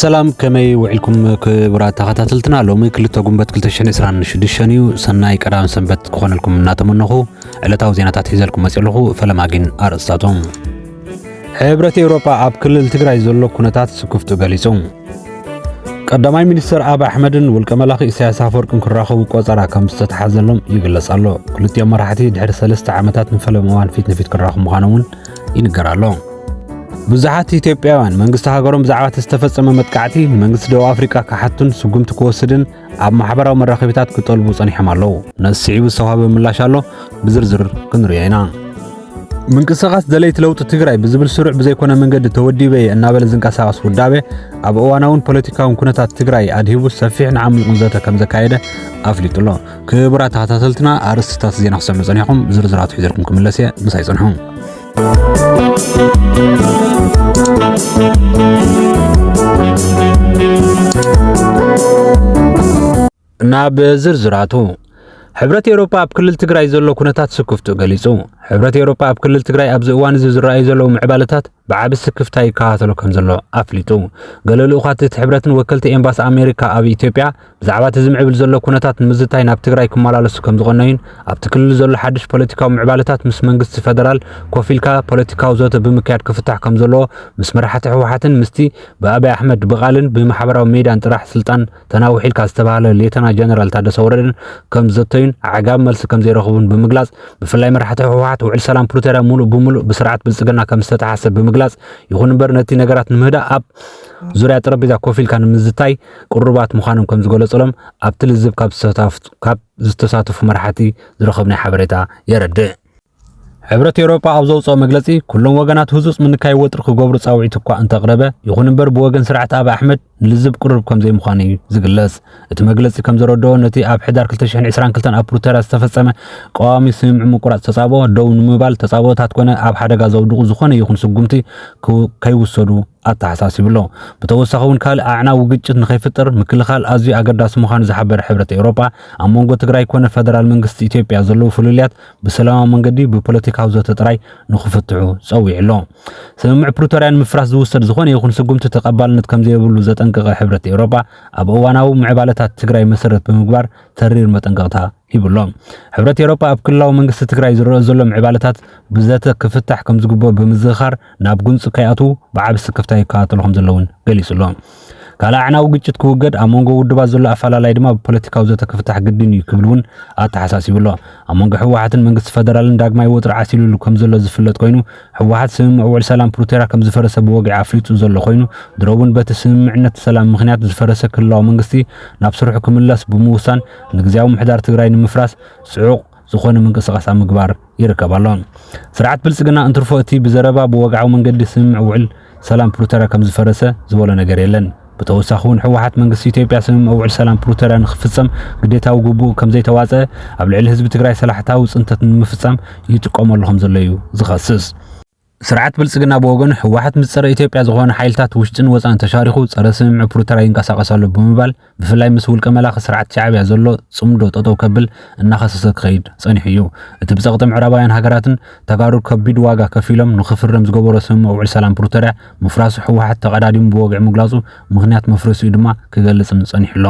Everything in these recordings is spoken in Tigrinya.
ሰላም ከመይ ውዒልኩም ክቡራት ተኸታተልትና ሎሚ ክልተ ጉንበት 226 እዩ ሰናይ ቀዳም ሰንበት ክኾነልኩም እናተመነኹ ዕለታዊ ዜናታት ሒዘልኩም መፅእ ኣለኹ ፈለማ ግን ኣርእስታቶም ሕብረት ኤውሮጳ ኣብ ክልል ትግራይ ዘሎ ኩነታት ስክፍቱ ገሊጹ ቀዳማይ ሚኒስትር ኣብ ኣሕመድን ውልቀ መላኺ ኢሳያስ ኣፈወርቅን ክራኸቡ ቆፀራ ከም ዝተተሓዘሎም ይግለጽ ኣሎ ክልቲኦም መራሕቲ ድሕሪ ሰለስተ ዓመታት ንፈለማ እዋን ፊት ንፊት ክራኸቡ ምዃኖም እውን ይንገር ኣሎ። ብዙሓት ኢትዮጵያውያን መንግስቲ ሃገሮም ብዛዕባ እቲ ዝተፈጸመ መጥቃዕቲ ንመንግስቲ ደቡብ ኣፍሪቃ ክሓቱን ስጉምቲ ክወስድን ኣብ ማሕበራዊ መራኸቢታት ክጠልቡ ጸኒሖም ኣለዉ። ነዚ ስዒቡ ዝተዋህበ ምላሽ ኣሎ፣ ብዝርዝር ክንሪኦ ኢና። ምንቅስቓስ ደለይቲ ለውጢ ትግራይ ብዝብል ስሩዕ ብዘይኮነ መንገዲ ተወዲበ እየ እናበለ ዝንቀሳቐስ ውዳበ ኣብ እዋናውን ፖለቲካውን ኩነታት ትግራይ ኣድሂቡ ሰፊሕን ዓሚቑን ዘተ ከም ዘካየደ ኣፍሊጡ ኣሎ። ክቡራት ተኸታተልትና ኣርእስትታት ዜና ክሰምዑ ጸኒሕኩም ዝርዝራቱ ሒዘልኩም ክምለስ እየ ምሳይ ጽንሑ ናብ ዝርዝራቱ ሕብረት ኤውሮፓ ኣብ ክልል ትግራይ ዘሎ ኩነታት ስክፍቱ ገሊጹ። ሕብረት ኤውሮፓ ኣብ ክልል ትግራይ ኣብዚ እዋን እዚ ዝረኣዩ ዘለዉ ምዕባለታት ብዓቢ ስክፍታ ይከታተሎ ከምዘሎ ኣፍሊጡ። ገለ ልኡኻት እቲ ሕብረትን ወከልቲ ኤምባሲ ኣሜሪካ ኣብ ኢትዮጵያ ብዛዕባ እቲ ዝምዕብል ዘሎ ኩነታት ንምዝታይ ናብ ትግራይ ክመላለሱ ከምዝቐነዩን ኣብቲ ክልል ዘሎ ሓድሽ ፖለቲካዊ ምዕባለታት ምስ መንግስቲ ፈደራል ኮፍ ኢልካ ፖለቲካዊ ዘተ ብምክያድ ክፍታሕ ከምዘለዎ ምስ መራሕቲ ህወሓትን ምስቲ ብኣብይ ኣሕመድ ብቓልን ብማሕበራዊ ሜድያን ጥራሕ ስልጣን ተናዊሑ ኢልካ ዝተባህለ ሌተና ጀነራል ታደሰ ወረደን ከም ዘተዩን ኣዕጋቢ መልሲ ከም ዘይረኽቡን ብምግላጽ ብፍላይ መራሕቲ ህወሓት ውዕል ሰላም ፕሪቶርያ ሙሉእ ብሙሉእ ብስርዓት ብልጽግና ከም ዝተተሓሰ ብምግላጽ ይኹን እምበር ነቲ ነገራት ንምህዳእ ኣብ ዙርያ ጠረጴዛ ኮፍ ኢልካ ንምዝታይ ቅሩባት ምዃኖም ከም ዝገለጸሎም ኣብቲ ልዝብ ካብ ዝተሳተፉ መራሕቲ ዝረኸብናይ ሓበሬታ የረድእ። ሕብረት ኤውሮጳ ኣብ ዘውጽኦ መግለጺ ኩሎም ወገናት ህጹጽ ምንካይ ወጥሪ ክገብሩ ጻውዒት እኳ እንተቕረበ ይኹን እምበር ብወገን ስርዓት ኣብ ኣሕመድ ንልዝብ ቅሩብ ከም ዘይምዃኑ እዩ ዝግለጽ። እቲ መግለጺ ከም ዘረድኦ ነቲ ኣብ ሕዳር 2022 ኣብ ፕሪቶርያ ዝተፈጸመ ቀዋሚ ስምምዕ ምቁራጽ ተጻብኦ ደው ንምባል ተጻብኦታት ኮነ ኣብ ሓደጋ ዘውድቑ ዝኾነ ይኹን ስጉምቲ ከይውሰዱ ኣተሓሳሲቡ ኣሎ። ብተወሳኺ እውን ካልእ ኣዕናዊ ግጭት ንከይፍጠር ምክልኻል ኣዝዩ ኣገዳሲ ምዃኑ ዝሓበረ ሕብረት ኤውሮጳ፣ ኣብ መንጎ ትግራይ ኮነ ፈደራል መንግስቲ ኢትዮጵያ ዘለዉ ፍልልያት ብሰላማዊ መንገዲ ብፖለቲካዊ ዘተ ጥራይ ንክፍትሑ ጸዊዑ ኣሎ። ስምምዕ ፕሪቶርያ ንምፍራስ ዝውሰድ ዝኾነ ይኹን ስጉምቲ ተቐባልነት ከምዘየብሉ ዘጠንቀቐ ሕብረት ኤውሮጳ፣ ኣብ እዋናዊ ምዕባለታት ትግራይ መሰረት ብምግባር ተሪር መጠንቀቕታ ይብሎ። ሕብረት ኤሮጳ ኣብ ክልላዊ መንግስቲ ትግራይ ዝረኦ ዘሎ ምዕባለታት ብዘተ ክፍታሕ ከም ዝግብኦ ብምዝኽኻር ናብ ጉንፂ ከይኣትው ብዓቢ ስክፍታ ይከታተሎ ከም ዘሎ እውን ገሊፁ ኣሎ። ካልእ ኣዕናዊ ግጭት ክውገድ ኣብ መንጎ ውድባት ዘሎ ኣፈላላይ ድማ ብፖለቲካዊ ዘተ ክፍታሕ ግድን እዩ ክብል እውን ኣተሓሳሲቡ ኣሎ። ኣብ መንጎ ህወሓትን መንግስቲ ፈደራልን ዳግማይ ወጥሪ ዓሲሉሉ ከም ዘሎ ዝፍለጥ ኮይኑ ህወሓት ስምምዕ ውዕል ሰላም ፕሪቶርያ ከም ዝፈረሰ ብወግዒ ኣፍሊጡ ዘሎ ኮይኑ ድሮ እውን በቲ ስምምዕነት ሰላም ምክንያት ዝፈረሰ ክልላዊ መንግስቲ ናብ ስርሑ ክምለስ ብምውሳን ንግዝያዊ ምሕዳር ትግራይ ንምፍራስ ጽዑቕ ዝኾነ ምንቅስቓስ ኣብ ምግባር ይርከብ ኣሎ። ስርዓት ብልጽግና እንትርፎ እቲ ብዘረባ ብወግዓዊ መንገዲ ስምምዕ ውዕል ሰላም ፕሪቶርያ ከም ዝፈረሰ ዝበሎ ነገር የለን። ብተወሳኺ እውን ህወሓት መንግስቲ ኢትዮጵያ ስምምዕ ውዕል ሰላም ፕሪቶርያ ንክፍጸም ግዴታዊ ግቡእ ከም ዘይተዋጸአ ኣብ ልዕሊ ህዝቢ ትግራይ ሰላሕታዊ ጽንተት ንምፍጻም ይጥቀመሉ ከም ዘሎ እዩ ዝኸስስ። ስርዓት ብልፅግና ብወገኑ ህወሓት ምስ ፀረ ኢትዮጵያ ዝኾኑ ሓይልታት ውሽጥን ወፃእን ተሻሪኹ ፀረ ስምምዕ ፕሪቶርያ ይንቀሳቐስ ኣሎ ብምባል ብፍላይ ምስ ውልቀ መላኺ ስርዓት ሻዕብያ ዘሎ ፅምዶ ጠጠው ከብል እናኸሰሰ ክኸይድ ፀኒሑ እዩ። እቲ ብፀቕጢ ምዕራባውያን ሃገራትን ተጋሩ ከቢድ ዋጋ ከፊሎም ንኽፍረም ዝገበሮ ስምምዕ ውዕል ሰላም ፕሪቶርያ ምፍራሱ ህወሓት ተቐዳዲሙ ብወግዒ ምግላፁ ምኽንያት መፍረሲኡ ድማ ክገልፅን ፀኒሑ ኣሎ።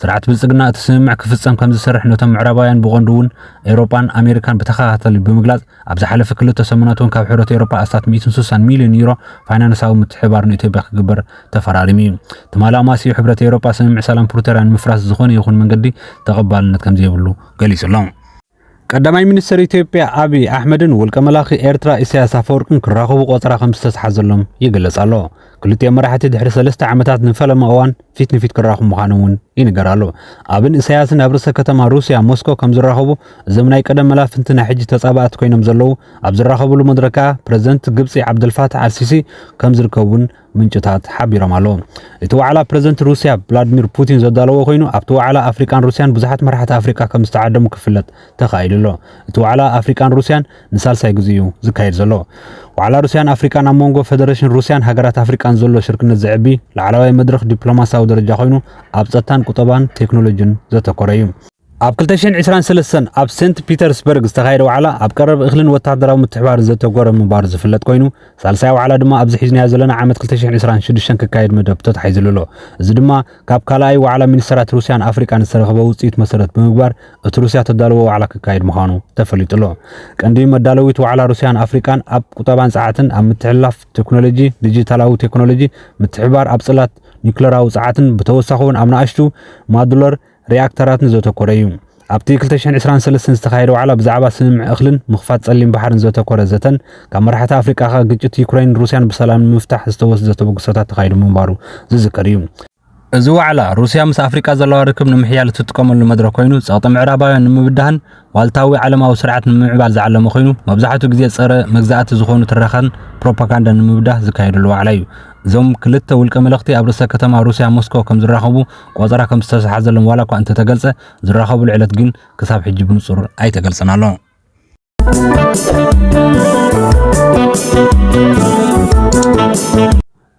ስርዓት ብልፅግና እቲ ስምምዕ ክፍፀም ከምዝሰርሕ ነቶም ምዕራባውያን ብቐንዱ እውን ኤውሮጳን ኣሜሪካን ብተኸታታሊ ብምግላፅ ኣብ ዝሓለፈ ክልተ ሰሙናት እውን ካብ ሕብረት ኤውሮጳ ኣስታት ሚእትን ስሳን ሚልዮን ዩሮ ፋይናንሳዊ ምትሕብባር ንኢትዮጵያ ክግበር ተፈራሪሙ እዩ። ትማሊ ኣማስይኡ ሕብረት ኤውሮጳ ስምምዕ ሰላም ፕሪቶርያ ንምፍራስ ብዝኾነ ይኹን መንገዲ ተቐባልነት ከምዘይብሉ ገሊጹ ኣሎ። ቀዳማይ ሚኒስተር ኢትዮጵያ ኣብይ ኣሕመድን ውልቀ መላኺ ኤርትራ ኢሳያስ ኣፈወርቅን ክራኸቡ ቆጸራ ከምዝተትሓዘሎም ይግለጽ ኣሎ። ክልቲኦም መራሕቲ ድሕሪ ሰለስተ ዓመታት ንፈለማ እዋን ፊት ንፊት ክራኹ ምዃኖም እውን ይንገር ኣሎ። ኣብን እሳያስን ኣብ ርእሰ ከተማ ሩስያ ሞስኮ ከም ዝራኸቡ እዞም ናይ ቀደም መላፍንቲ ናይ ሕጂ ተጻባእቲ ኮይኖም ዘለዉ ኣብ ዝራኸብሉ መድረክ ከኣ ፕረዚደንት ግብጺ ዓብደልፋታሕ ኣልሲሲ ከም ዝርከቡን ምንጭታት ሓቢሮም ኣለዉ። እቲ ዋዕላ ፕረዚደንት ሩስያ ቭላድሚር ፑቲን ዘዳለዎ ኮይኑ ኣብቲ ዋዕላ ኣፍሪቃን ሩስያን ብዙሓት መራሕቲ ኣፍሪቃ ከም ዝተዓደሙ ክፍለጥ ተኻኢሉ ኣሎ። እቲ ዋዕላ ኣፍሪቃን ሩስያን ንሳልሳይ ግዜ'ዩ ዝካየድ ዘሎ። ዋዕላ ሩስያን ኣፍሪቃን ኣብ መንጎ ፈደረሽን ሩስያን ሃገራት ኣፍሪቃን ዘሎ ሽርክነት ዘዕቢ ላዕለዋይ መድረኽ ዲፕሎማስያዊ ደረጃ ኮይኑ ኣብ ጸጥታን ቁጠባን ቴክኖሎጂን ዘተኮረ እዩ። ኣብ ክልተ ሽሕን ዕስራን ሰለስተን ኣብ ሴንት ፒተርስበርግ ዝተኻየደ ዋዕላ ኣብ ቀረብ እኽልን ወተሃደራዊ ምትሕብባርን ዘተኮረ ምንባሩ ዝፍለጥ ኮይኑ ሳልሳይ ዋዕላ ድማ ኣብዚ ሒዝናዮ ዘለና ዓመት ክልተ ሽሕን ዕስራን ሽዱሽተን ክካየድ መደብ ተታሒዝሉ ኣሎ። እዚ ድማ ካብ ካልኣይ ዋዕላ ሚኒስተራት ሩስያን ኣፍሪቃን ዝተረኽበ ውጽኢት መሰረት ብምግባር እቲ ሩስያ ተዳልዎ ዋዕላ ክካየድ ምዃኑ ተፈሊጡ'ሎ። ቀንዲ መዳለዊት ዋዕላ ሩስያን ኣፍሪቃን ኣብ ቁጠባን ጸዓትን፣ ኣብ ምትሕልላፍ ቴክኖሎጂ፣ ዲጂታላዊ ቴክኖሎጂ፣ ምትሕብባር ኣብ ጽላት ኒዩክለራዊ ጸዓትን ብተወሳኺ'ውን ኣብ ናእሽቱ ማዱለር ሪኣክተራትን ዘተኮረ እዩ። ኣብቲ ክልተ ሽሕን ዕስራን ሰለስተን ዝተኻየደ ዋዕላ ብዛዕባ ስምምዕ እኽልን ምኽፋት ጸሊም ባሕርን ዘተኮረ ዘተን ካብ መራሕቲ ኣፍሪቃ ከኣ ግጭት ዩክረይንን ሩስያን ብሰላም ንምፍታሕ ዝተወስደ ተበግሶታት ተኻይዱ ምንባሩ ዝዝከር እዩ። እዚ ዋዕላ፣ ሩስያ ምስ ኣፍሪቃ ዘለዋ ርክብ ንምሕያል እትጥቀመሉ መድረኽ ኮይኑ፣ ጸቕጢ ምዕራባውያን ንምብዳህን ዋልታዊ ዓለማዊ ስርዓት ንምምዕባል ዝዓለመ ኮይኑ፣ መብዛሕትኡ ግዜ ጸረ መግዛእቲ ዝኾኑ ትረኻን ፕሮፓጋንዳን ንምብዳህ ዝካየደሉ ዋዕላ እዩ። እዞም ክልተ ውልቀ መለኽቲ ኣብ ርእሰ ከተማ ሩስያ ሞስኮ ከምዝራኸቡ ቆጸራ ከምዝተሰሓዘሎም ዋላኳ እንተተገልጸ፣ ዝራኸቡሉ ዕለት ግን ክሳብ ሕጂ ብንጹር ኣይተገልጸን ኣሎ።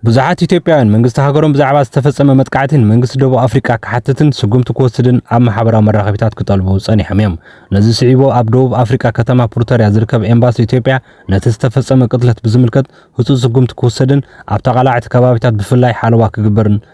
ብዙሓት ኢትዮጵያውያን መንግስቲ ሃገሮም ብዛዕባ ዝተፈጸመ መጥቃዕቲ ንመንግስቲ ደቡብ ኣፍሪቃ ክሓትትን ስጉምቲ ክወስድን ኣብ ማሕበራዊ መራኸቢታት ክጠልቡ ጸኒሖም እዮም። ነዚ ስዒቡ ኣብ ደቡብ ኣፍሪቃ ከተማ ፕሪቶርያ ዝርከብ ኤምባሲ ኢትዮጵያ ነቲ ዝተፈጸመ ቅትለት ብዝምልከት ህጹጽ ስጉምቲ ክወሰድን ኣብ ተቓላዕቲ ከባቢታት ብፍላይ ሓለዋ ክግበርን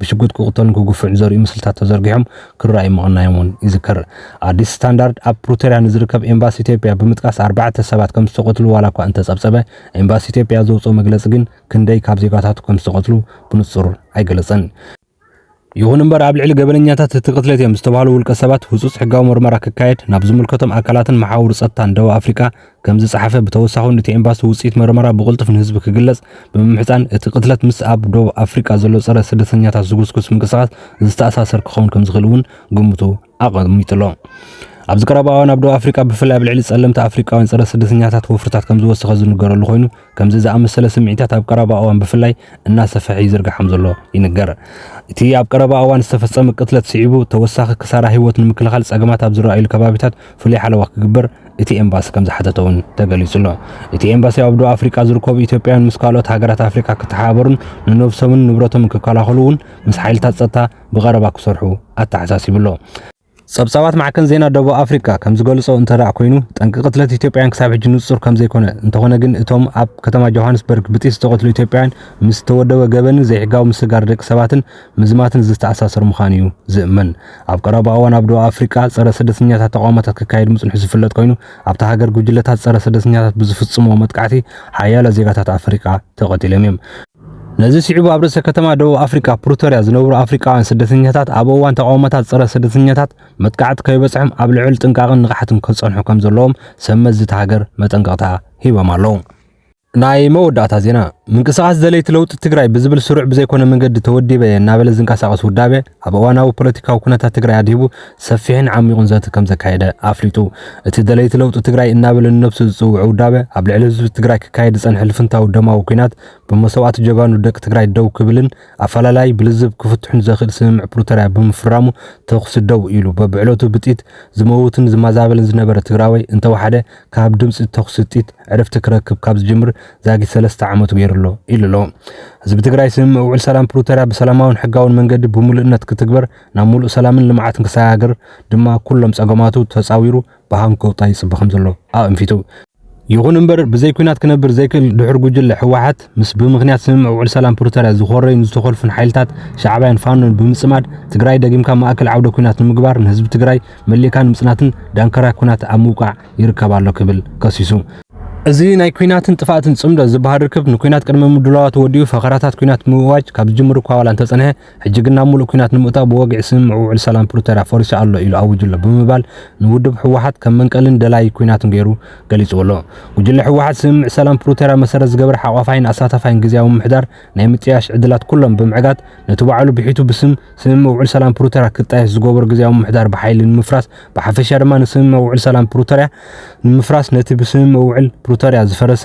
ብሽጉጥ ክቕተሉን ክግፍዑን ዘርእዩ ምስልታት ተዘርጊሖም ክረኣዩ ምቕናዮም እውን ይዝከር። ኣዲስ ስታንዳርድ ኣብ ፕሩተርያ ንዝርከብ ኤምባሲ ኢትዮጵያ ብምጥቃስ ኣርባዕተ ሰባት ከም ዝተቐትሉ ዋላ እኳ እንተጸብጸበ፣ ኤምባሲ ኢትዮጵያ ዘውጽኦ መግለጺ ግን ክንደይ ካብ ዜጋታቱ ከም ዝተቐትሉ ብንጹር ኣይገለጸን። ይኹን እምበር ኣብ ልዕሊ ገበነኛታት እቲ ቅትለት እዮም ዝተባህሉ ውልቀ ሰባት ህጹጽ ሕጋዊ ምርመራ ክካየድ ናብ ዝምልከቶም ኣካላትን መሓውር ጸጥታን ደቡብ ኣፍሪቃ ከም ዝጸሓፈ፣ ብተወሳኹ ን እቲ ኤምባሲ ውጽኢት መርመራ ብቕልጡፍ ንህዝቢ ክግለጽ ብምምሕጻን፣ እቲ ቅትለት ምስ ኣብ ዶብ ኣፍሪቃ ዘሎ ጸረ ስደተኛታት ዝጉስጉስ ምንቅስቓስ ዝተኣሳሰር ክኸውን ከም ዝኽእል እውን ግምቱ ኣቐሚጡ ኣሎ። ኣብዚ ቀረባ እዋን ኣብ ዶብ ኣፍሪቃ ብፍላይ ኣብ ልዕሊ ጸለምቲ ኣፍሪቃውያን ጸረ ስደተኛታት ወፍርታት ከም ዝወሰኸ ዝንገረሉ ኮይኑ፣ ከምዚ ዝኣመሰለ ስምዒታት ኣብ ቀረባ እዋን ብፍላይ እናሰፈሐ ይዝርጋሕ ከምዘሎ ይንገር። እቲ ኣብ ቀረባ እዋን ዝተፈጸመ ቅትለት ስዒቡ ተወሳኺ ክሳራ ህይወት ንምክልኻል ጸገማት ኣብ ዝረኣዩሉ ከባቢታት ፍሉይ ሓለዋ ክግበር እቲ ኤምባሲ ከምዝሓተተ እውን ተገሊጹ'ሎ። እቲ ኤምባሲ ኣብ ደቡብ ኣፍሪቃ ዝርከቡ ኢትዮጵያውያን ምስ ካልኦት ሃገራት ኣፍሪቃ ክተሓባበሩን ንነብሶምን ንብረቶምን ክከላኸሉ እውን ምስ ሓይልታት ጸጥታ ብቐረባ ክሰርሑ ኣተሓሳሲቡ'ሎ። ጸብጻባት ማዕከን ዜና ደቡብ ኣፍሪቃ ከም ዝገልጾ እንተደኣ ኮይኑ፣ ጠንቂ ቅትለት ኢትዮጵያውያን ክሳብ ሕጂ ንጹር ከም ዘይኮነ፣ እንተኾነ ግን እቶም ኣብ ከተማ ጆሃንስበርግ ብጥይት ዝተቐትሉ ኢትዮጵያውያን ምስ ዝተወደበ ገበንን ዘይሕጋዊ ምስግጋር ደቂ ሰባትን ምዝማትን ዝተኣሳሰር ምዃኑ'ዩ ዝእመን። ኣብ ቀረባ እዋን ኣብ ደቡብ ኣፍሪቃ ጸረ ስደተኛታት ተቓውሞታት ክካየድ ምጽንሑ ዝፍለጥ ኮይኑ፣ ኣብታ ሃገር ጉጅለታት ጸረ ስደተኛታት ብዝፍጽምዎ መጥቃዕቲ ሓያሎ ዜጋታት ኣፍሪቃ ተቐቲሎም'ዮም። ነዚ ስዒቡ ኣብ ርእሰ ከተማ ደቡብ ኣፍሪቃ ፕሪቶርያ ዝነብሩ ኣፍሪቃውያን ስደተኛታት ኣብ እዋን ተቓውሞታት ጸረ ስደተኛታት መጥቃዕቲ ከይበጽሖም ኣብ ልዑል ጥንቃቕን ንቕሓትን ክጸንሑ ከም ዘለዎም ሰብ መዚ እታ ሃገር መጠንቀቕታ ሂቦም ኣለዉ። ናይ መወዳእታ ዜና ምንቅስቓስ ደለይቲ ለውጢ ትግራይ ብዝብል ስሩዕ ብዘይኮነ መንገዲ ተወዲበ እየ እናበለ ዝንቀሳቐስ ውዳበ ኣብ እዋናዊ ፖለቲካዊ ኩነታት ትግራይ ኣድሂቡ ሰፊሕን ዓሚቑን ዘተ ከምዘካየደ ኣፍሊጡ። እቲ ደለይቲ ለውጢ ትግራይ እናበለ ንነብሱ ዝጽውዕ ውዳበ ኣብ ልዕሊ ህዝቢ ትግራይ ክካየድ ዝጸንሐ ልፍንታዊ ደማዊ ኲናት ብመሰዋእቲ ጀጋኑ ደቂ ትግራይ ደው ክብልን ኣፈላላይ ብልዝብ ክፍትሑን ዘኽእል ስምምዕ ፕሪቶርያ ብምፍራሙ ተኹሲ ደው ኢሉ በብዕለቱ ብጥይት ዝመውትን ዝማዛበልን ዝነበረ ትግራዋይ እንተወሓደ ካብ ድምጺ ተኹሲ ጥይት ዕረፍቲ ክረክብ ካብ ዝጅምር ዛጊት ሰለስተ ዓመቱ ገይሩ ኣሎ ኢሉ ኣሎ። ህዝቢ ትግራይ ስምምዕ ውዕል ሰላም ፕሪቶርያ ብሰላማውን ሕጋውን መንገዲ ብምሉእነት ክትግበር ናብ ሙሉእ ሰላምን ልምዓትን ክሰጋገር ድማ ኩሎም ፀገማቱ ተፃዊሩ ብሃም ክውጣ ይፅበ ከምዘሎ ኣእንፊቱ። ይኹን እምበር ብዘይ ኲናት ክነብር ዘይክእል ድሑር ጉጅለ ህወሓት ምስ ብምኽንያት ስምምዕ ውዕል ሰላም ፕሪቶርያ ዝኾረዩን ዝተኾልፉን ሓይልታት ሻዕብያን ፋኖን ብምፅማድ ትግራይ ደጊምካ ማእከል ዓውደ ኲናት ንምግባር ንህዝቢ ትግራይ መሊእካ ንምፅናትን ዳንከራ ኲናት ኣብ ምውቃዕ ይርከብ ኣሎ ክብል ከሲሱ። እዚ ናይ ኲናትን ጥፍኣትን ፅምዶ ዝበሃል ርክብ ንኲናት ቅድመ ምድላዋቱ ወዲኡ ፈኸራታት ኲናት ብምእዋጅ ካብ ዝጅምር እኳ ዋላ እንተፀንሐ፣ ሕጂ ግን ናብ ሙሉእ ኲናት ንምእታው ብወግዒ ስምምዕ ውዕል ሰላም ፕሪቶርያ ፈሪሱ ኣሎ ኢሉ ኣዊጁ ኣሎ ብምባል ንውድብ ህወሓት ከም መንቀልን ደላዪ ኲናትን ገይሩ ገሊፁዎ ኣሎ። ጉጅለ ህወሓት ስምምዕ ሰላም ፕሪቶርያ መሰረት ዝገበረ ሓቋፋይን ኣሳታፋይን ግዝያዊ ምምሕዳር ናይ ምጥያሽ ዕድላት ኩሎም ብምዕጋት ነቲ ባዕሉ ብሒቱ ብስም ስምምዕ ውዕል ሰላም ፕሪቶርያ ክጣየሽ ዝገበሮ ግዝያዊ ምምሕዳር ብሓይሊ ንምፍራስ ብሓፈሻ ድማ ንስምምዕ ውዕል ሰላም ፕሪቶርያ ንምፍራስ ነቲ ብስምምዕ ውዕል ፕሪቶርያ ዝፈረሰ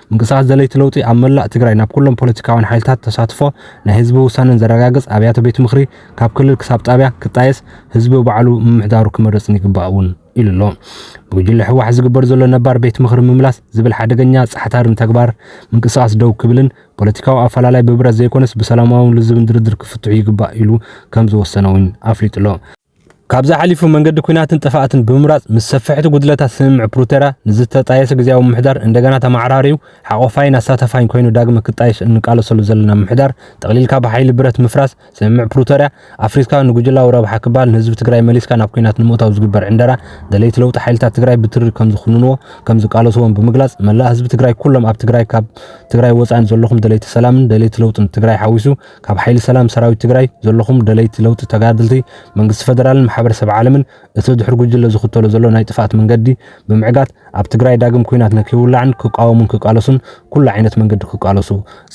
ምንቅስቓስ ደለይቲ ለውጢ ኣብ መላእ ትግራይ ናብ ኩሎም ፖለቲካውያን ሓይልታት ተሳትፎ ናይ ህዝቢ ውሳነን ዘረጋግፅ ኣብያተ ቤት ምኽሪ ካብ ክልል ክሳብ ጣብያ ክጣየስ ህዝቢ ባዕሉ ምምሕዳሩ ክመርፅን ይግባእ እውን ኢሉ ኣሎ። ብጉጅለ ህወሓት ዝግበር ዘሎ ነባር ቤት ምኽሪ ምምላስ ዝብል ሓደገኛ ፃሕታርን ተግባር ምንቅስቓስ ደው ክብልን ፖለቲካዊ ኣፈላላይ ብብረት ዘይኮነስ ብሰላማውን ልዝብን ድርድር ክፍትሑ ይግባእ ኢሉ ከም ዝወሰነ እውን ኣፍሊጡ ኣሎ። ካብዚ ሓሊፉ መንገዲ ኩናትን ጥፍኣትን ብምምራፅ ምስ ሰፈሕቲ ጉድለታት ስምምዕ ፕሩተርያ ንዝተጣየሰ ግዝያዊ ምምሕዳር እንደገና ተመዓራርዩ ሓቆፋይን ኣሳታፋይን ኮይኑ ዳግመ ክጣየሽ እንቃለሰሉ ዘለና ምምሕዳር ጠቕሊልካ ብሓይሊ ብረት ምፍራስ ስምምዕ ፕሩተርያ ኣፍሪስካ ንጉጅላዊ ረብሓ ክባሃል ንህዝቢ ትግራይ መሊስካ ናብ ኩናት ንምእታው ዝግበር ዕንደራ ደለይቲ ለውጢ ሓይልታት ትግራይ ብትሪ ከምዝኹንንዎ ከምዝቃለስዎን ብምግላፅ መላእ ህዝቢ ትግራይ ኩሎም ኣብ ትግራይ ካብ ትግራይ ወፃእን ዘለኹም ደለይቲ ሰላምን ደለይቲ ለውጥን ትግራይ ሓዊሱ ካብ ሓይሊ ሰላም ሰራዊት ትግራይ ዘለኹም ደለይቲ ለውጢ ተጋደልቲ መንግስቲ ፈደራልን ማሕበረሰብ ዓለምን እቲ ድሑር ጉጅለ ዝኽተሎ ዘሎ ናይ ጥፍኣት መንገዲ ብምዕጋት ኣብ ትግራይ ዳግም ኩናት ንክይውላዕን ክቃወሙን ክቃለሱን ኩሉ ዓይነት መንገዲ ክቃለሱ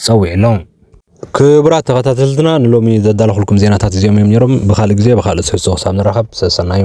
ጸዊዑ ኣሎ። ክቡራት ተኸታተልትና ንሎሚ ዘዳለኹልኩም ዜናታት እዚኦም እዮም ነይሮም። ብኻልእ ግዜ ብኻልእ ትሕዝቶ ክሳብ ንራኸብ ሰሰናዩ።